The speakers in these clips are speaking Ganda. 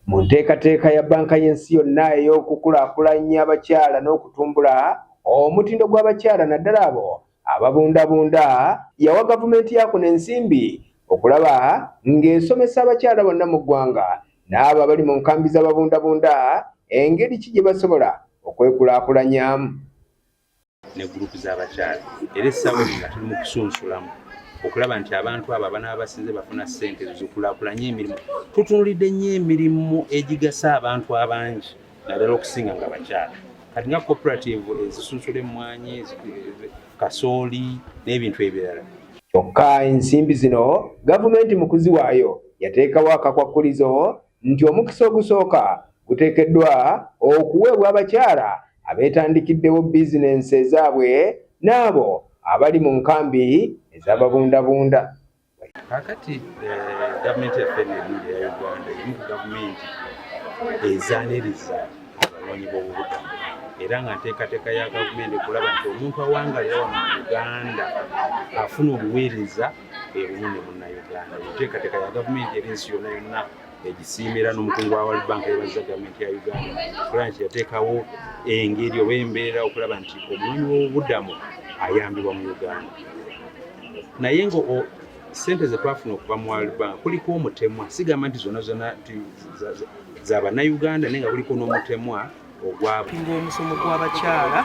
Mu nteekateeka ya Bbanka y'Ensi yonna ey'okukulaakulanya abakyala n'okutumbula omutindo gw'abakyala naddala abo ababundabunda, yawa Gavumenti ya kuno ensimbi okulaba ng'esomesa abakyala bonna mu ggwanga n'abo abali mu nkambi z'ababundabunda engeri ki gye basobola okwekulaakulanyamu. ne gurupu z'abakyala era essaawa eno nga tuli mu kusunsulamu okulaba nti abantu abo abanaaba basinze bafuna ssente zikulakulanye emirimu tutunulidde nnyo emirimu egigasa abantu abangi naddala okusinga nga bakyala kati nga cooperative ezisunsula emmwanyi kasooli n'ebintu ebirala kyokka ensimbi zino gavumenti mu kuziwaayo yateekawo akakwakkulizo nti omukisa ogusooka guteekeddwa okuweebwa abakyala abeetandikiddewo bizinensi ezaabwe n'abo abali mu nkambi ez'ababundabunda. Kakati eh, gavumenti yaffe nemu eya Uganda erimu ku gavumenti ezaniriza abanoonyi b'obubudamu era nga nteekateeka ya gavumenti okulaba nti omuntu awangalira wano mu Uganda afuna obuweereza ebumu ne munnayuganda enteekateeka ya gavumenti eri ensi yonna yonna egisiimira n'omukungu wa world bank yebaza gavumenti ya uganda okulaba nti yateekawo engeri oba embeera okulaba nti omulimu w'obubudamu ayambibwa mu uganda naye nga sente zetwafuna okuva mu world bank kuliko omutemwa sigamba nti zona zona zabanayuganda naye nga kuliko n'omutemwa ogwabwe ng'omusomo gw'abakyala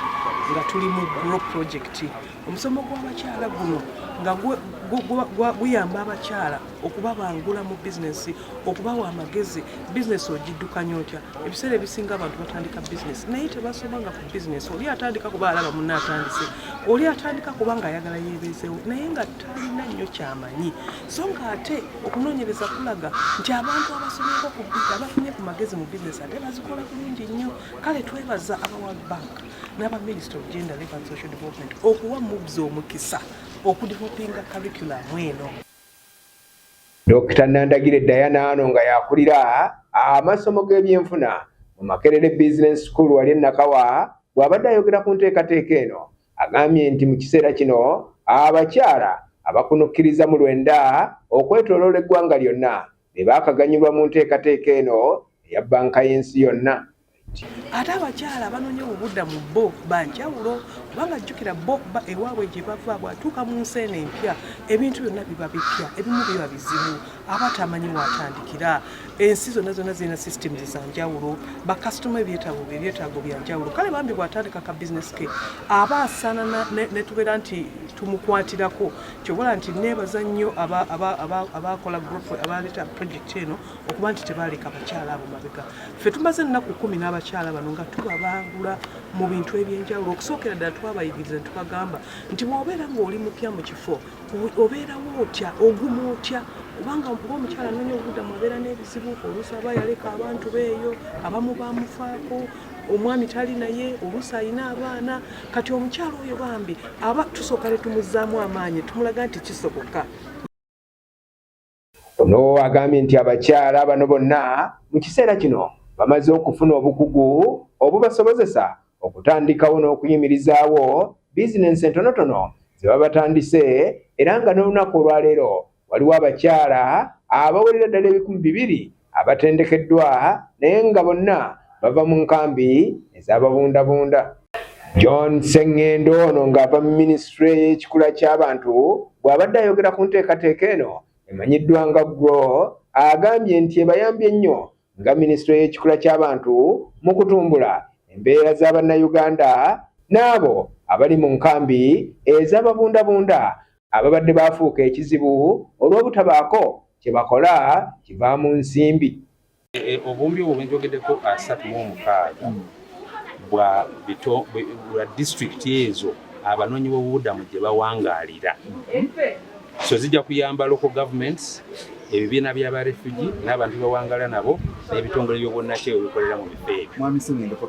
nga tuli mu grow project omusomo gw'abakyala guno nga guyamba abakyala okubabangula mu bizinesi okubawa amagezi bizinesi ogiddukanya otya ebiseera ebisinga abantu batandika bizinesi naye tebasomanga ku bizinesi oli atandika kuba alaba munna atandise oli atandika kuba nga ayagala yebeezewo naye nga talina nnyo kyamanyi so ng'ate okunoonyereza kulaga nti abantu abasomyeko ku bizi abafunye ku magezi mu bizinesi ate bazikola bulungi nnyo kale twebaza aba world bank n'aba minister of gender live and social development okuwa mubs omukisa okudevelopinga curriculamu eno dokita nandagire diana ano nga yakulira amasomo g'ebyenfuna mu makerere business school wali enakawa bw'abadde ayogera ku nteekateeka eno Agambye nti mu kiseera kino abakyala abakunukkiriza mu lwenda okwetoloola eggwanga lyonna be baakaganyulwa mu nteekateeka eno eya bbanka y'ensi yonna. Ate abakyala abanoonya obubuddamu bo ba njawulo kubanga jjukira bo ba ewaabwe gye bava bw'atuuka mu nsi eno empya ebintu byonna biba bipya ebimu biba bizibu. aba atamanyi waatandikira ensi zonna zonna zirina systems zanjawulo bakasitoma ebyetaago ebyetaago byanjawulo kale bambi bwatandika ka bizinesi ke aba asaana netubeera nti tumukwatirako kyobola nti nebaza nnyo abakola group abaleeta project eno okuba nti tebaaleka abakyala abo mabega ffe tumaze ennaku kumi n'abakyala bano nga tubabangula mu bintu ebyenjawulo okusookera ddala twabayigiriza netubagamba nti bwobeera ngaoli mupya mu kifo obeerawo otya oguma otya kubanga ngaomukyala nonya obudamu abeera n'ebizibu oluusi aba yaleka abantu beeyo abamu bamufaako omwami tali naye oluusi alina abaana kati omukyala oyo bambi aba tusooka ne tumuzzaamu amaanyi tumulaga nti kisoboka Ono agambye nti abakyala bano bonna mu kiseera kino bamaze okufuna obukugu obubasobozesa okutandikawo n'okuyimirizaawo bizinensi entonotono ze babatandise era nga n'olunaku olwaleero waliwo abakyala abawerera ddala ebikumi bibiri abatendekeddwa naye nga bonna bava mu nkambi ez'ababundabunda john sengendo ono ng'ava mu minisitule y'ekikula ky'abantu bw'abadde ayogera ku nteekateeka eno emanyiddwa nga gro agambye nti ebayambye nnyo nga minisitule y'ekikula ky'abantu mu kutumbula embeera za bannayuganda n'abo abali mu nkambi ez'ababundabunda ababadde baafuuka ekizibu olw'obutabaako kye bakola kivaamu nsimbi eh, eh, obumbi obwo bwenjogeddeko asatu mu omukaaga bwa bito bwa disitulikiti ezo abanoonyi b'obubudamu gye bawangaalira so zijja kuyamba local governments ebibiina by'aba refugi n'abantu bewangala nabo n'ebitongole by'obwonnakyeyo bikolera mu bifo ebyo